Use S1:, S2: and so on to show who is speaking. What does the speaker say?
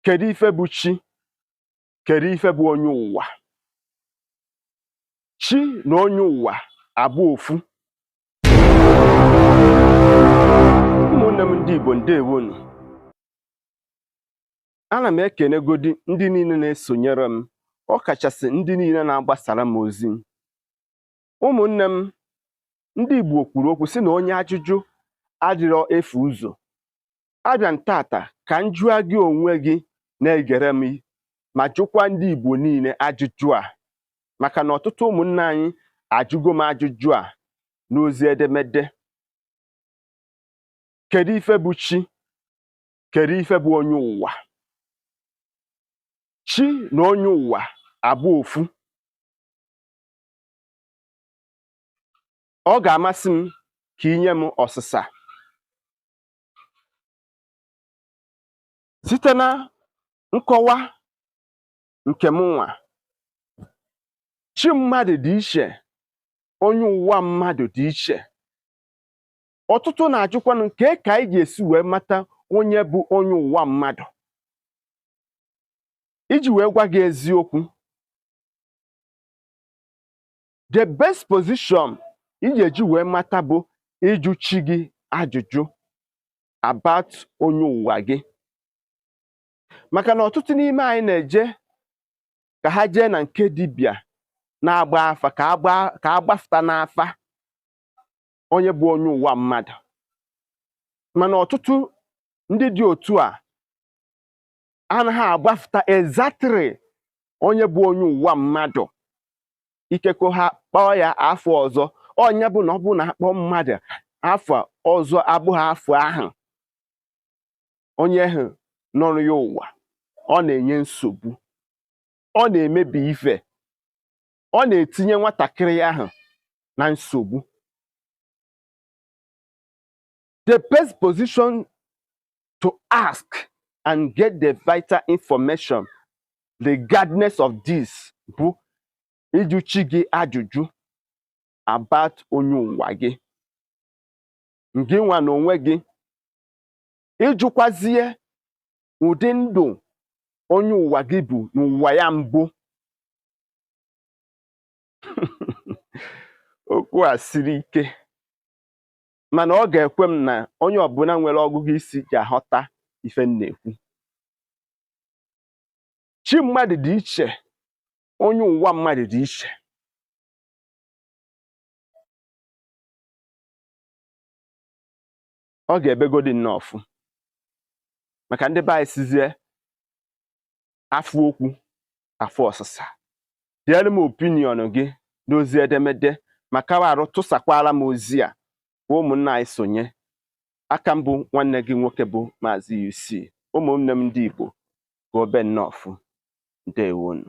S1: kedu ife bụ chi kedu ife bụ onye ụwa chi na onye ụwa abụ ofu ụmụnne m ndị Igbo ndewonu ana m ekenegodi ndị niile na-esonyere m ọ kachasị ndị niile na-agbasara m ozi ụmụnne m ndị Igbo kwuru okwu sị na onye ajụjụ adịrọ efu ụzọ abịa m tata ka m jụọ gị onwe gị na-egere m ma jụkwa ndị Igbo niile ajụjụ a maka na ọtụtụ ụmụnne anyị ajụgo m ajụjụ a n'ozi edemede kedu ife bụ chi kedu ife bụ onye ụwa chi na onye ụwa abụ ofu ọ ga-amasị m ka i nye m ọsịsa site na nkọwa nke m nwa chi mmadụ dị iche onye ụwa mmadụ dị iche ọtụtụ na-ajụkwanụ m kee ka anyị ga-esi wee mata onye bụ onye ụwa mmadụ iji wee gwa gị eziokwu the best position ị ga-eji wee mata bụ ịjụ chi gị ajụjụ about onye ụwa gị maka na ọtụtụ n'ime anyị na-eje ka ha jee na nke dibịa na-agba afa ka a gbafụta n'afa onye bụ onye ụwa mmadụ mana ọtụtụ ndị dị otu a anaghị agbafụta exactly onye bụ onye ụwa mmadụ ikekwe ha kpọọ ya afa ọzọ ọ nya bụ na ọ bụrụ na a kpọọ mmadụ afa ọzọ abụghị afa ahụ onye ahụ nọrọ ya ụwa ọ na-enye nsogbu ọ na-emebi ife ọ na-etinye nwatakịrị ahụ na nsogbu The best position to ask and get the vital information regardless of this bụ ịjụ chi gị ajụjụ about onye ụwa gị gị nwa na onwe gị ịjụkwazie ụdị ndụ onye ụwa gị bụ n'ụwa ya mbụ okwu a siri ike mana ọ ga-ekwe m na onye ọbụla nwere ọgụgụ isi ji aghọta ife m na-ekwu chi mmadụ dị iche onye ụwa mmadụ dị iche ọ ga-ebegodi nnọọfụ maka ndị be anyị sizie afụ okwu afụ ọsịsa deere m opinion gị n'ozi edemede ma kawa arụ tụsakwara m ozi a ka ụmụnna anyị sonye a ka m bụ nwanne gị nwoke bụ maazị UC ụmụnne m ndị Igbo ka o be nnọọfụ ndewonu